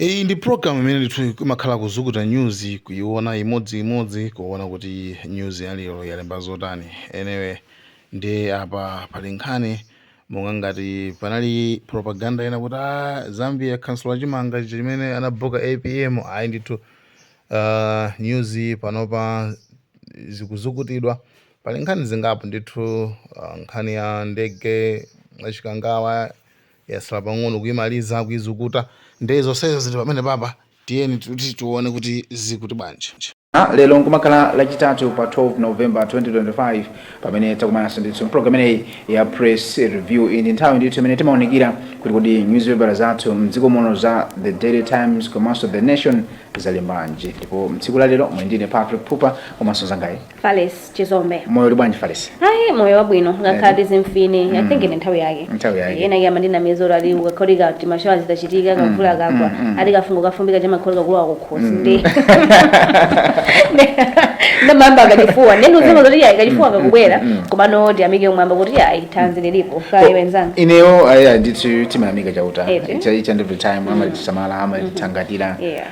Iyi ndi program imene ndithu imakhala kuzukuta news kuiona imodzi imodzi kuona kuti news ya lero yalemba zotani anyway ndi apa pali nkhani monga ngati panali propaganda ina kuti "Ah, zambia yakansula chimanga chija chimene anabuka apm ayi ndithu uh, news panopa zikuzukutidwa pali nkhani zingapo ndithu uh, nkhani ya ndege achikangawa Yatsala pang'ono kuimaliza kuizukuta nde zonsezo zili pamenepapa tiyeni kuti tione kuti zikuti bwanji. Lero nkumakhala lachitatu pa 12 November 2025 pamene takumananso ndithu mpulogalamu imeneyi ya Press Review. Iyi ndi nthawi ndithu imene timaunikira kuti kodi nyuzipepala zathu mdziko muno za The Daily Times komanso The Nation zalembanji ndipo mtsiku la lero muli ndine Patrick Pupa komanso mzangayi Fales Chizombe. moyo uli bwanji falesi Ayi moyo wabwino ngakhala Eh. tizimfine I Mm. think ndi nthawi yake. Nthawi yake. Yena yama ndinamizolowera ali ukakholika kuti mashawa zitachitika kakula mm, kakwa mm. ali kafungo kafumbika cha mangolika kulowa kukhosi ndi. Nde mayamba kachifuwa nde nuziwa zoti yayi kachifuwa kakubwera mm. komano tiyamike kumwamba kuti yayi thanzi lilipo kaya Oh, wenzanga. ineyo aya ndithu timayamika chauta Eti. Icha- each and every time amatisamala amatithangata Yeah.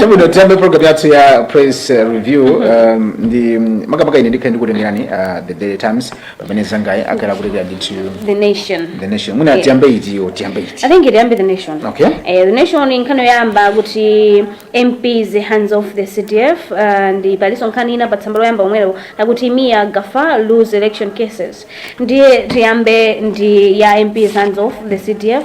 chabwino tiyambe program yathu ya press uh, review um, ndi mm, makamaka ine ndikhale ndikutengerani uh, the daily times pamene anzangayi akhala akutengerani ndithu the nation the nation mwina Yeah. tiyambe iti iyo tiyambe iti I think iyambe the nation. Okay. Eh, the nation nkhani yoyamba kuti MPs hands off the CDF uh, ndi paliso nkhani ina pa tsamba loyamba lomwelo akuti Mia Gaffar lose election cases. Ndiye tiyambe ndi ya MPs hands off the CDF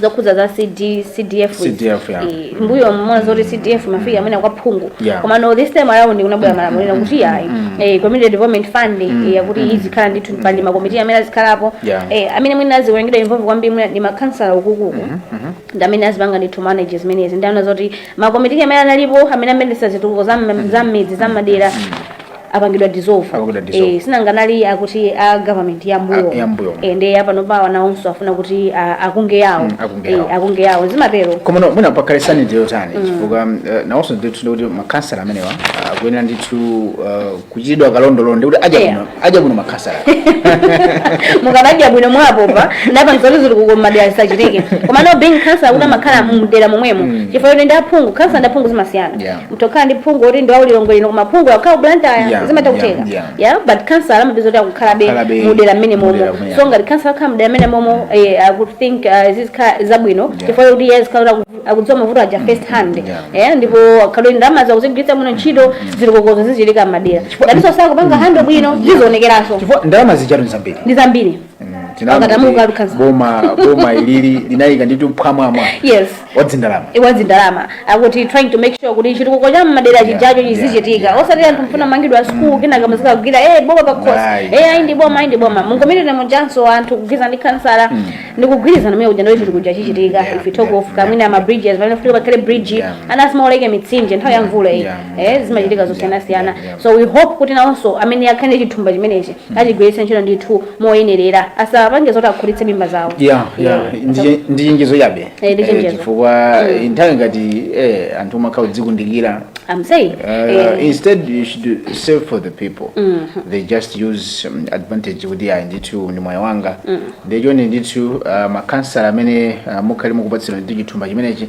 zokhudza za CD, CDF izi. CDF, yeah. Eh, mbuyomu waona zoti CDF imafikira mwina kwa phungu Yeah. komano this time around kunabwera malamulo ena kuti ayi eh, community development fund eh, yakuti izikhala ndithu pali makomiti amene azikhalapo Yeah. eh, amene mwina azipangidwa involve kwambiri mwina ndi makhansala ukuuku ndi amene azipanga ndithu manage zimenezi nde ndaona zoti makomiti amene analipo amene amayendetsa zitukuko za mmidzi za madera apangidwa dissolve Apangidwa dissolve. eh sinanga anali akuti a government ya mbuyo A- ya mbuyo. eh nde apano awa nawonso afuna kuti ah, akunge yawo Mm, akunge yawo. eh akunge yawo zimatero komano mwina pakhale sanity yotani chifukwa eh, nawonso ndithu ndikuti makhansala amenewa ah, akuyenera ndithu ah, kuchitidwa kalondolondo ndikuti adya Yeah. bwino adya bwino makhansala mukanadya bwino mwapopa ndalama zitukuko mmadera zisachitike komano being khansala kuti amakhala mdera momwemo chifukwa kuti ndi aphungu khansala ndi aphungu zimasiyana Yeah. mutha kukhala ndi phungu oti ndi wa ku Lilongwe kuno koma phungu akukhala ku Blantyre yeah, zimatha kutheka yeah, yeah. yeah, but khansala amadziwa kuti akukhalabe mudera mmene momo so ngati khansala akhala mudera mmene momo eh, I would think uh, eh, zizikhala zabwino chifukwa kuti iye azikhala kuti akudziwa mavuto aja mm, first hand yeah. yeah, ndipo akaona kuti ndalama akuzigwiritsa bwino ntchito mm, mm. zitukukozo zichitika mmadera ngatinso sakupanga handle bwino zizionekeraso ndalama zijatu ndi zambiri ndi zambiri Pakati amuka lukhanza. boma boma ilili linayika ndi nditu pamwamwa Yes. wadzindalama iwadzindalama akuti trying to make sure kuti chitukuko cha mmadera chijacho Yeah, chizichitika yeah, osati anthu mfuna mangidwa sukulu kenaka muzikagwira e boma pakhosi Ayi. e ayi ndi boma ayi ndi boma mungomerere mujanso anthu kugwirizana ndi khansala ndi kugwirizana mene kuja ndiye chitukuko chichitika Yeah, if you talk yeah, of kamwina ama bridges pamene futi pakhale bridge Yeah. ana asamaoloke mitsinje nthawi ya mvula iyi Yeah, eh zimachitika yeah, zosiyanasiyana yeah, yeah. so we hope kuti nawonso amene akhale ndi chithumba chimenechi achigwiritse ntchito ndithu moyenerera asapange zoti akhulitse mimba zawo ya ya ndi- ndi chenjezo chabe Eh, ndi Eh, chenjezo. chifukwa eh, nthawi ngati eh, anthu umakhala kudzikundikira I'm saying Uh, eh, instead you should serve the people they just use um, advantage kuti ayi ndithu ndi mwayi wanga nde chonde ndithu uh, makansala amene uh, mukhale mukupatsidwa ndithu chithumba chimenechi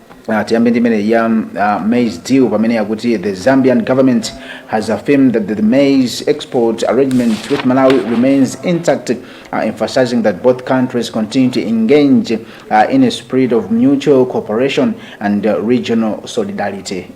Uh, tiyambe ndi imene ya uh, maize deal pamene yakuti the zambian government has affirmed that the maize export arrangement with malawi remains intact uh, emphasizing that both countries continue to engage uh, in a spirit of mutual cooperation and uh, regional solidarity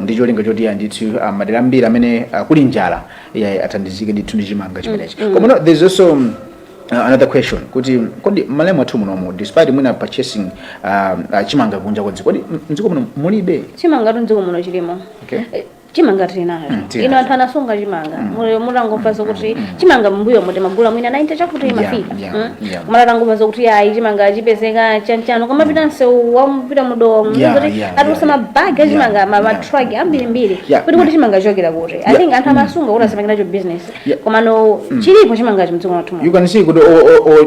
ndi cholinga choti ya ndithu ah, madera ambiri amene ah, kuli njala ya athandizike ndithu ndi chimanga chimenechi koma no, there's also um, Uh, another question kuti kodi alimi athu munomu despite mwina purchasing uh, uh, chimanga kunja kwa dziko kodi m- mdziko muno mulibe chimanga mdziko muno chilimo Okay. Eh, chimanga tili nacho tili ino nacho. anthu anasunga chimanga Muli- atangomva zokuti chimanga mbuyomu timagula mwina 90 chakuti Yeah, imafika Yeah, Mm. yeah. komano atangomva zokuti ayi chimanga chipezeka chanchino kumapita msewu wa Mponela mu Dowa Yeah, muzoti yeah, atulutsa yeah. mabagi a chimanga Yeah, ma- yeah. matraki ambirimbiri Yeah, kuti kuti yeah. chimanga chochokera kuti i Yeah, think anthu amasunga kuti asapangiracho business Yeah. komano chilipo chimangacho mdziko mwathu muno. you can see kuti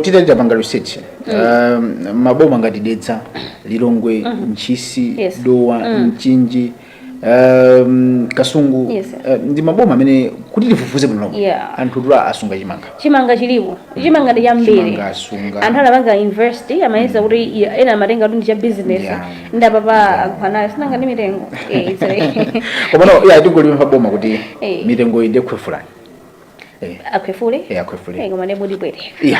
titati tipange research um, maboma ngati dedza lilongwe ntchisi Yes. dowa mchinji um, kasungu Yes, sir. eh, ndi maboma amene kuti tifufuze bwino lomwe Yeah. anthu asunga chimanga chimanga chilipo chimanga ndi chambiri Chimanga asunga. anthu anapanga invest amayesa kuti iya, ena amatenga kuti ndi cha business Yeah. ndapapa anthu anayo sinanga ndi mitengo Eh, it's like- komano ya tingolipempha boma kuti Eh. mitengo iyi nde ikhwefulani akhwefule Eh, akhwefule. Eh, koma nde mutipweteka ya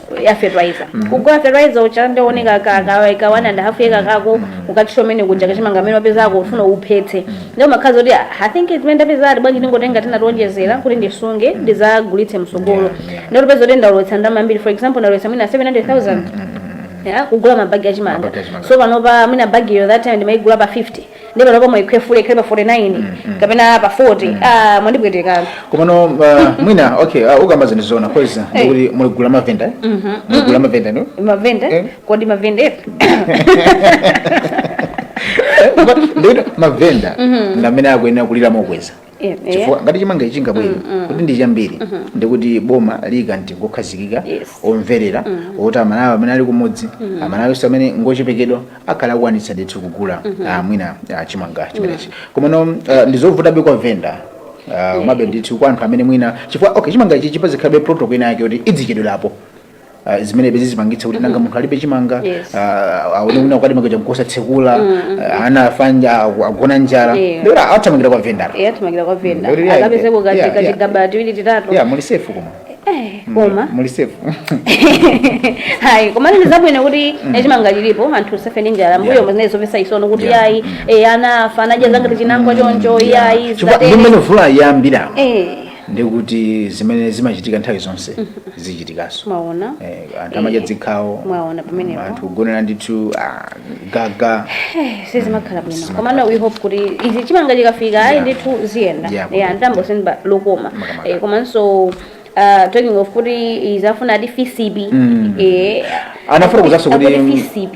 ya fertilizer kugula fertilizer ucha ndioneka kaka ka one and a half yeka kako ukachito mene kuja kachimanga mene wapeza ako ufuna uphetse ndio makhazi oti i think zimene ndapeza ati bwanji ndingotenga tena ndionjezera kuti ndisunge ndizagulitse msogolo ndiye upeza kuti ndalowetsa ndalama ambiri for example ndalowetsa mwina 700000 ya kugula mabagi achimanga Mabagi achimanga. so panopa mwina bagiyo that time ndimayigula pa 50 ndi panopa mwayikhwefula ikhale pa 49 kapena pa 40 ah mwandipweteka komano uh, mwina okay uh, ukukamba zinthu zoona cause Hey. ndikuti mulirira mavenda mulirira mavenda no mavenda Eh. kodi mavenda efe Eh, but ndikuti mavenda ndamene akuyenera kulira mokweza Eh, eh. chifukwa ngati chimanga ichi chingabwere kuti ndi chambiri ndikuti boma liika mtengo okhazikika Yes. omverera oti amalawi amene ali kumudzi amalawi onse amene ngochepekedwa akhala akwanitsa ndithu kugula ah, mwina ah, chimanga chimenechi komano ah, ndizovutabe kwa venda ah, komabe ndithu kwa anthu amene mwina chifukwa okay chimanga ichi pazikhalabe protocol ina yake kuti idzichedwerapo Uh, zimene bezi zikupangitsa kuti nanga munthu alibe chimanga Yes. ah, aone una kwati makeja mkosatsekula ah, ana afanja agu- agona njala Yeah. ndikuti athamangira kwa venda eya athamangira kwa venda Ndikuti, yeah, akapezeko yeah, yeah. kachigaba tiwiri titatu ya muli safe koma Eh, koma muli safe hayi koma ndi zabwino kuti chimanga chilipo anthu usafe ndi njala mbuyo Yeah. mu zinazi zopesa chisoni kuti Yeah. yayi eh, ana afa anadya zanga tichinangwa choncho yayi Chifukwa ndi mmene vula yambira Eh, ndiye kuti zimene zimachitika nthawi zonse zichitikanso mwaona Eh, anthu amadya dzikhawo Mwaona pamenepo. anthu kugonera ndithu ah, gaga Eh, sizimakhala bwino komano we hope kuti ayi chimanga chikafika ayi Yeah. ndithu ziyenda Yeah, yeah, ndambo senba lokoma Makamaka. Eh, komanso uh, talking of kuti izafuna ati fcb Eh, Anafuna kuzanso kuti- akuti fcb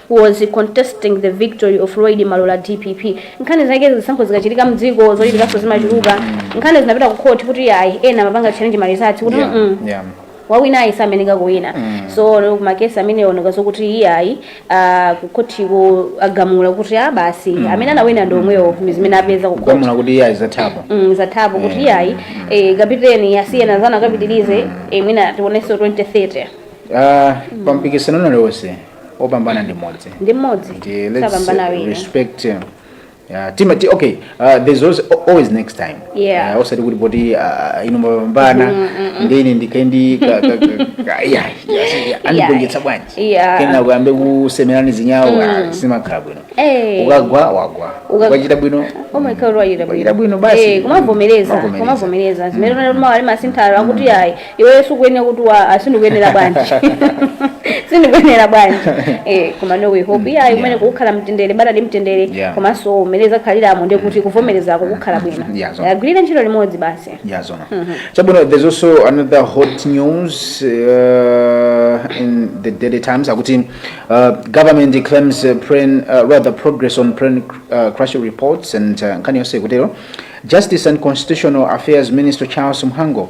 was contesting the victory of Lloyd Malola dpp nkhani zake zisankho zikachitika mdziko zochitikaso zimachuluka nkhani zinapita ku court kuti ayi ena amapanga challenge ma results kuti yeah, mm, yeah. wawina ayi sameneka kuwina mm. so ma cases amene oneka zokuti iyayi uh, kukhotiko agamula kuti a basi mm. amene anawina ndi omwewo mm. zimene apeza ku khoti agamula kuti iyayi zathapo mm, zathapo kuti iyayi eh, kapiteni asiyena zana akapitirize eh, mwina tionenso 2030 uh, pampikisano ulionse opambana ndi mmodzi ndi mmodzi Ndi- let's sapambana uh, awiri respect uh, uh, team ati okay uh, there's always, always next time Yeah. uh, osati kuti poti uh, ine simnapambane nde ine ndikhale ndi ka- ka- ka- ka- yeah, yeah, yeah, andigonjetsa bwanji Yeah. kena kuyambe kusemerani zinyawo ah, simakhala bwino Eh. ukagwa wagwa Uka- ukachita bwino wachita Wachita bwino basi. kumavomereza Kumavomereza. kumavomereza zimene tona kuti mawali masinthalo akuti ayi iweyo sukuyenera kuti wa ah, sindikuyenera bwanji sindikuyenera bwanji eh, koma no we hope iyayi mmene Yeah. mukhala mtendere bata ndi mtendere Yeah. komanso umene zakhaliramo ndi kuti kuvomerezako kukhala bwino Yeah, so- agwire ntchito limodzi basi Yeah, Zona. Chabwino, there's also another hot news uh, in the Daily Times. Akuti, uh, government claims uh, plane, uh, rather progress on plane uh, crash reports and uh, nkhani yonse ikutero. Justice and Constitutional Affairs Minister Charles Mhango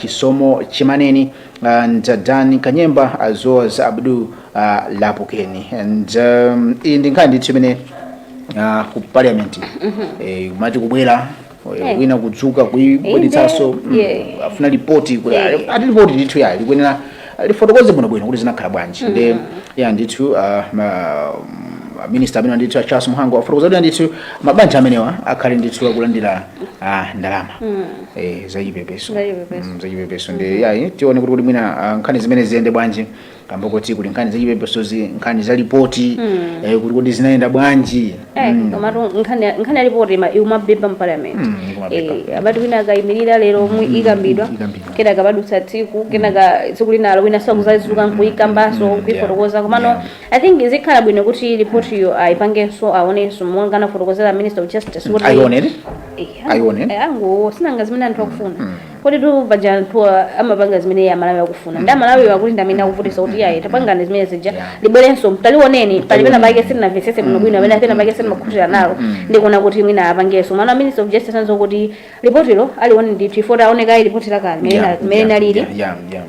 Chisomo Chimaneni and uh Dan Kanyemba as well as Abdul uh, Lapukeni and um, iyi ndi nkhani ndithu imene uh, ku parliament eh, kumati kubwera eh, Eh. wina kudzuka kuibweretsanso Inde, yeah. afuna lipoti kuti Yeah. ati lipoti ndithu ya likuyenera lifotokoze bwino bwino kuti zinakhala bwanji mm -hmm. nde iyayi ndithu uh, ma, um, minister amenewa ndithu a Charles Mhango afotokoza kuti ndithu mabanja amenewa akhale ndithu akulandira uh, ndalama mm. eh, za chipepeso za chipepeso mm, nde iyayi eh, tione kuti kuti mwina uh, nkhani zimene ziyende bwanji kamba kuti kuli nkhani za chipepesozi nkhani za lipoti mm. eh, kuti kuti zinayenda bwanji Eh, mm. komatu nkhani ya report imabeba mu parliament mm, eh abati wina akaimirira lero mm, ikambidwa kenaka padutsa tsiku kenaka tsiku linalo wina akuzazuka nkuikambaso mm, kuifotokoza komano yeah. i think izikhala bwino kuti report yo aipangenso aonenso monga anafotokozera minister of justice kuti aione aione eh, angounikanso zimene anthu akufuna mm. Kodi tu paja anthuwa amapanga zimene amalawi akufuna nde amalawiwo akuti ndi amene akuvutisa kuti iyayi tapangani zimene zija libwerenso talioneni pali pena pake sitinamvesese bwino bwino amene pena pake sitimakhutira nalo ndikuona kuti mwina apangenso monga a minister of justice anena kuti lipotilo alione ndithu ifeyo taone kaye lipoti lakale mene Yeah, mene yeah, linalili yeah, yeah, yeah.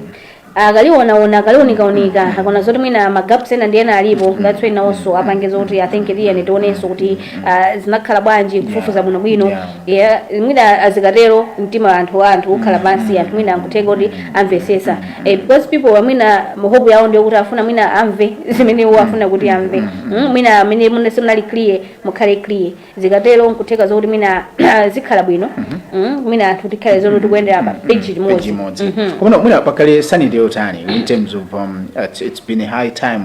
akalionaona, akaliunikaunika akaona zoti mwina ma gaps ena ndi ena alipo that's when nawonso apange zoti i think tiyeni tionenso kuti ah, zinakhala bwanji kufufuza bwinobwino Yeah. yeah, mwina azikatero mtima wa anthu wa anthu ukhala pansi anthu mwina nkutheka kuti amvesesa eh, because people mwina hope yawo ndiyo kuti afuna mwina amve zimene iwo afuna kuti amve Mm, mwina mmene mune simunali clear mukhale clear zikatero nkutheka zokuti mwina zikhala bwino mm, mwina anthu tikhale zoti tikuyendera pa page Page limodzi imodzi. Mhm. Komano mwina pakhale sanity yotani in terms of um, it's, it's been a high time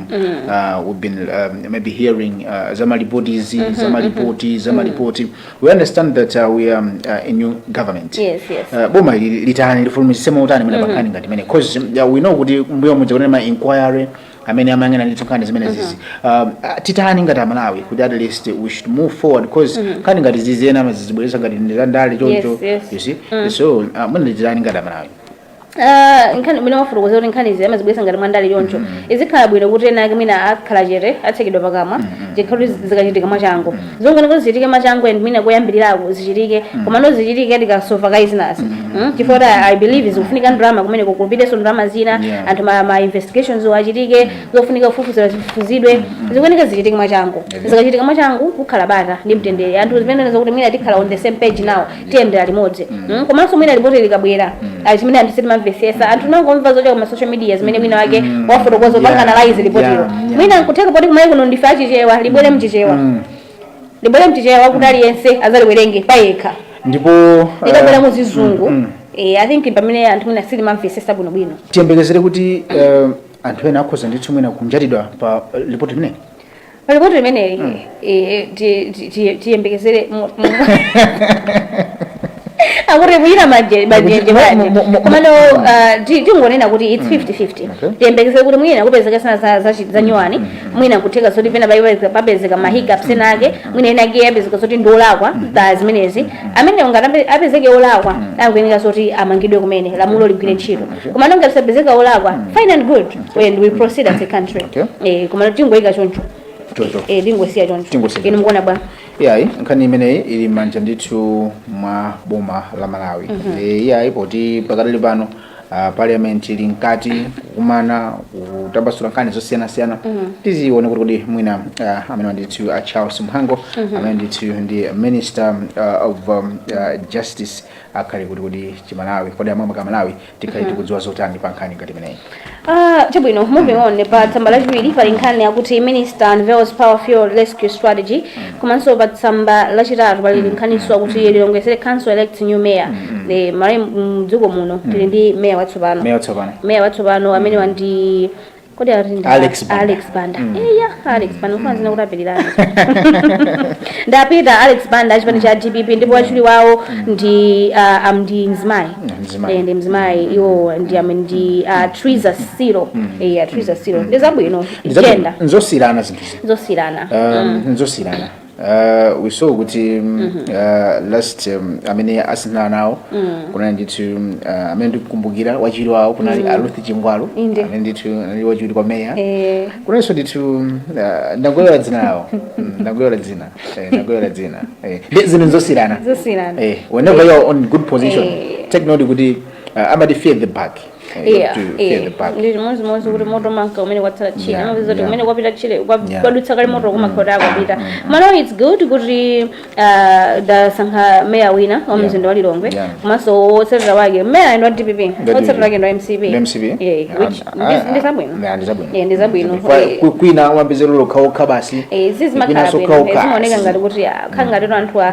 uh, we've been um, maybe hearing uh, zamalipoti izi zamalipoti zamalipoti we understand that uh, we are um, uh, a new government Yes, yes. Uh, boma ili litani lifulumizise motani mwina pankhani ngati imeneyi cause uh, we know kuti mbuyomu kuneli ma inquiry amene amayang'ana ndithu nkhani zimenezizi um, ah, titani ngati amalawi kuti at least we should move forward cause nkhani ngati zizi ena amazibweresa ngati ndi za ndale choncho Yes, yes. you see so uh, mwina titani ngati amalawi Ah, nkhani mwina wafotokoza kuti nkhani izi amazibweresa ngati mwandale choncho izikhala bwino kuti ena ake mwina akhala chete atsekedwa pakamwa zikhala kuti zikachitika mwachangu zofunika kuti zichitike mwachangu and mwina koyambirirako zichitike komano zichitike tikasova kaye zinazi Mm, chifukwa kuti i believe zikufunika ndalama kumene kupitenso ndalama zina Yeah. anthu ma, ma investigations achitike zofunika kufufuzira zifufuzidwe zikufunika zichitike mwachangu zikachitika mwachangu kukhala bata ndi mtendere anthu zimene zokuti mwina tikhala on the same page now tiyendera limodzi Mm. Mm, komanso mwina lipoti likabwera Mm. chimene anthu sitimamvesesa anthu amangomva zochoka ma social media zimene wina wake Mm. wafotokoza Yeah, apange analyze lipotilo yeah, yeah. mwina nkutheka poti kumene kuno ndife achichewa libwere mchichewa Mm. libwere mchichewa kuti aliyense azaliwerenge payekha ndipo likabwera eh, muzizungu mm, mm. Eh, i think pamene anthu mwina sitimamvesesa bwinobwino tiyembekezere kuti eh, anthu ena akhoza ndithu mwina kunjatidwa pa eh, lipoti limeneli palipoti limeneli eh, ti- ti- ti- tiyembekezere mu- mu- akuti mwina maje- majenje Mu- mu- mu- mu- komano ah, ti- tingonena kuti its 5050 Okay. tiyembekezere kuti mwina kupezeka zinazi za- za- za nyuwani mwina kutheka zoti pena paipezeka- papezeka ma hiccups ena ake mwina ena ake apezeka zoti ndi olakwa pa zimenezi amene ngati ape- apezeke olakwa akuyeneka zoti amangidwe kumene lamulo ligwire ntchito komano ngati sapezeka wolakwa mm. fine and good mm. and we proceed as a country okay. eh, komano tingozisiya choncho eh, tingosiya choncho inu mukuona bwa iyayi nkhani imeneyi ili mmanja ndithu mwa boma la malawi mm -hmm. e, iyayi poti pakadali pano uh, parliament ili mkati kukumana kutambasula nkhani zosiyanasiyana mm -hmm. tidzaone kuti kodi mwina uh, amene ndithu a charles mhango mm -hmm. amene ndithu ndi minister uh, of um, uh, justice akhale kuti kodi chimalawi kodi amwe ka malawi tikhale tikudziwa zotani pa nkhani ngati imeneyi Ah, chabwino moving on pa tsamba lachiwiri pali nkhani yakuti minister unveils power fuel rescue strategy komanso pa tsamba lachitatu pali nkhaninso akuti lilongwe city council elects new mayor likulu la mdziko muno tili ndi mayor watsopano meya watsopano mayor watsopano amene wandi kodi ali ndi Alex Banda. Alex Banda Mm. iya Alex Banda kufanana dzina kuthapilirana ndapita Alex Banda achipani cha DPP ndipo wachiwiri wawo ndi ah, am ndi mzimayi Mzimayi. Eh, ndi mzimayi iwo ndi am ndi ah, Triza Siro iya Triza Siro ndi zabwino Nzo- gender nzosiyirana zinthu zino zosiyirana Um, nzosiyirana Uh, we saw kuti um, uh, last um, amene asiyana nawo kunali ndithu um, uh, amene ndikukumbukira wachiwiri wawo kunali a ruth chingwalu Inde. amene ndithu anali wachiwiri kwa meya Eh. kunalinso ndithu um, uh, ndangoiwala dzina lawo Mm, ndangoiwala dzina Eh, ndangoiwala dzina Eh, ndi zinthu nzosiyirana Zosiyirana. Eh, whenever you're on good position Eh. take note kuti uh, amati fear the back eh, Yeah, to pay yeah. the back. ndi chimodzimodzi kuti moto umanka kumene kwatsala tchire Yeah, amapeza kuti yeah. kumene kwapita tchire kwa- Yeah. kwadutsa kale moto kumakhala kuti kwapita malo its good kuti uh, asankha meya wina wa Yeah. mzinda wa lilongwe Yeah. komanso wotsatira wake meyayu ndi wa dpp Ndi wotsatira DPP. wake ndi wa mcp Ndi MCP? Yeah, Yeah, which and- ndi- ah, ndi zabwino yeah, ndi zabwino. Yeah, ndi zabwino Kwa- Eh, ku- kwina amapezeka okhaokha basi eh, zizi kwina makhala bwino sokhaokha. zimaoneka ngati kuti ah, khala ngati anthu a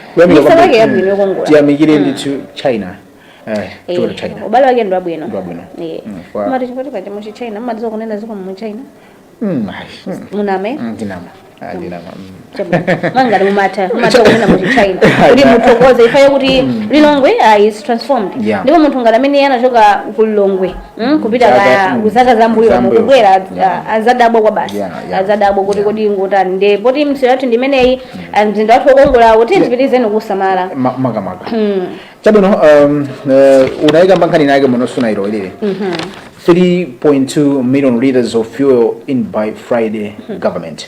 Kuyamika Misewu kwambiri. yake yabwino yokongola. tiyamikire ndithu china eh, Eh, chifukwatu china ubale wake ndi wabwino Ndi wabwino. Eh. Mm, kwa- Amati chiyani paja mu china mumati zo kunena ziko mu china Mm, ai, mm, muname mm, ndinama Ah, ndinama mm. Chabwino. mwangati mumatha mumatha kunena mu china kuti muthokoze ifeyo kuti lilongwe ah, is transformed Yeah. ndipo munthu ngati amene anachoka ku lilongwe Mm, kupita Zaka, kaya mm, kuzaka zambuyo zambuyo. mkubwera ah, azadabwa kwa basi Yeah, yeah. azadabwa kuti kodi nkutani ndi poti misewu yathu ndimeneyi ah, mzinda wathu wokongolawu tiyeni tipitilize kusamala Ma- makamaka chabwino um, uh, kunaikanso nkhani inayake muno inayo ilili 3.2 million liters of fuel in by friday government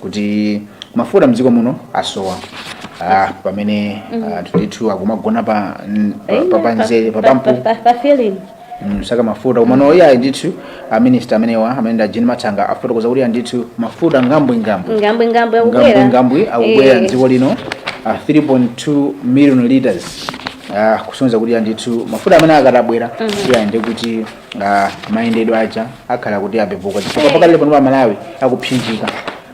kuti mafuta mdziko muno asowa ah, pamene anthu ndithu akumagona pa n- pa- pa- pamzere papampu pa filling nsaka mafuta komano iyayi ndithu aminista amenewa amene ndi a jean mathanga afotokoza kuti iyayi ndithu mafuta ngambwingambwi ngambwingambwi akubwera ngambwingambwi akubwera Eh, mdziko lino ah, 3.2 million liters ah, kusonyeza kuti iyayi ndithu mafuta amene akatabwera iyayi ndi kuti Ah, mayendedwe aja akhala kuti apepuka chifukwa Eh. pakali pano pa malawi akuphinjika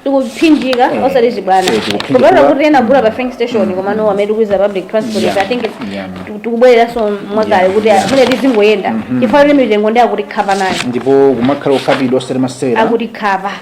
tikuphinjika Eh. osati chibwana Eh, tikuphinjika. kupatula kuti ena agula pa filling station komano amene tikuyuza public transport Yeah. i think Yeah. tu- tikubwereranso mwakale Yeah. kuti mmene tizingoyenda chifukwa kuti mitengo ndi akuti khapa nayo ndipo kumakhala okhapidwa osati masewera akuti khapa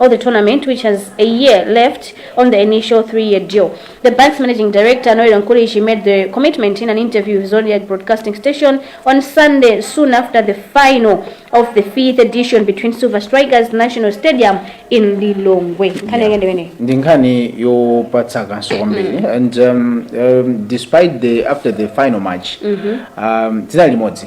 of the tournament which has a year left on the initial three-year deal. The bank's managing director, Noel Nkulishi, made the commitment in an interview with Zodiac Broadcasting Station on Sunday, soon after the final of the fifth edition between Silver Strikers National Stadium in Lilongwe. Nkhani yake ndi imeneyi. ndi nkhani yopatsa kaso kwambiri and um, um, despite the after the final match um, dzina limodzi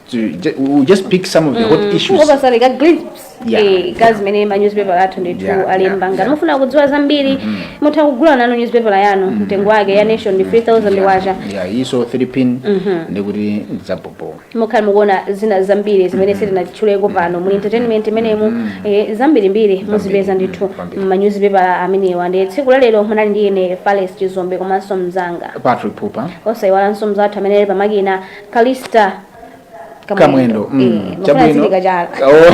to ju- we will just pick some of the hot issues kungopatsa like a glimpse Yeah. eh, ya zimene ma newspaper athu ndithu Yeah, alemba yeah, ngati yeah. mufuna kudziwa zambiri mutha kugula nanu newspaper yanu mtengo wake ya nation ndi 3000 kwacha yeah is 3 pin ndikuti ndi zapopo mukhala mukuona zina zambiri zimene sitinatchuleko pano muli entertainment imenemu eh, zambirimbiri muzipeza ndithu Kwambiri. manyuzipepala amenewa ndi tsiku lalero munali ndi ine fales chizombe komanso mzanga patrick pupa osayiwalanso mzathu amene ali pamakina kalista kamwendo mm, Eh, mufuna chabwino azilika chala Oh.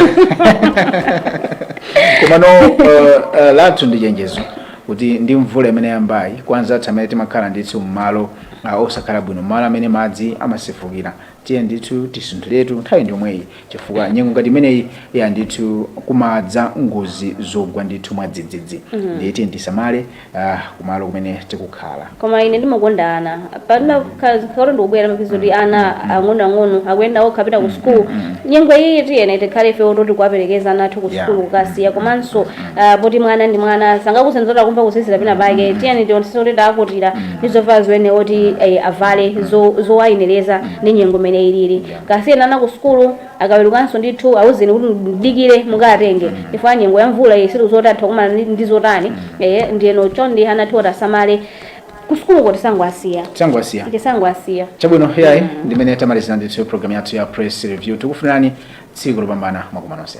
komano uh, uh, lathu ndi chenjezo kuti ndi mvula imene yambayi kwa anzathu amene timakhala ndithu mmalo uh, osakhala bwino mmalo amene madzi amasefukira tiye ndithu tisunthuliratu nthawi ndi yomweyi chifukwa nyengo ngati imeneyi yah ndithu kumadza ngozi zogwa ndithu mwadzidzidzi ndiye tiye tisamale ah, kumalo kumene tikukhala koma ine ndimakonda ana pamene kato ndikubwera ndimaviwona kuti ana ang'onoang'ono akuyenda okha kupita ku sukulu nyengo iyi tiyene tikhale ife oti oti kuwaperekeza ana athu ku Yeah. sukulu kukasiya komanso ah, poti mwana ndi mwana sangakuuzeni kuti akumva kuzizira pena pake tiyeni tionetsetse kuti tawakutira ndi zovala zimene oti eh, avale zo- zowayenereza ndi nyengo imene ilili kasiyeni ana ku sukulu Akawerukanso ndithu auzeni kuti mudikire mukawatenge chifukwa nyengo ya mvula iyi sitikudziwa kuti atha kukumana ndi- ndi zotani ehe ndiyeno chonde ana athuwa tiwasamale kusukuluko tisangowasiya Tisangowasiya. tisangowasiya chabwino yayi ndimene tamalizira ndithu programu yathu ya press review tikufunirani tsiku lopambana mwakumana nonse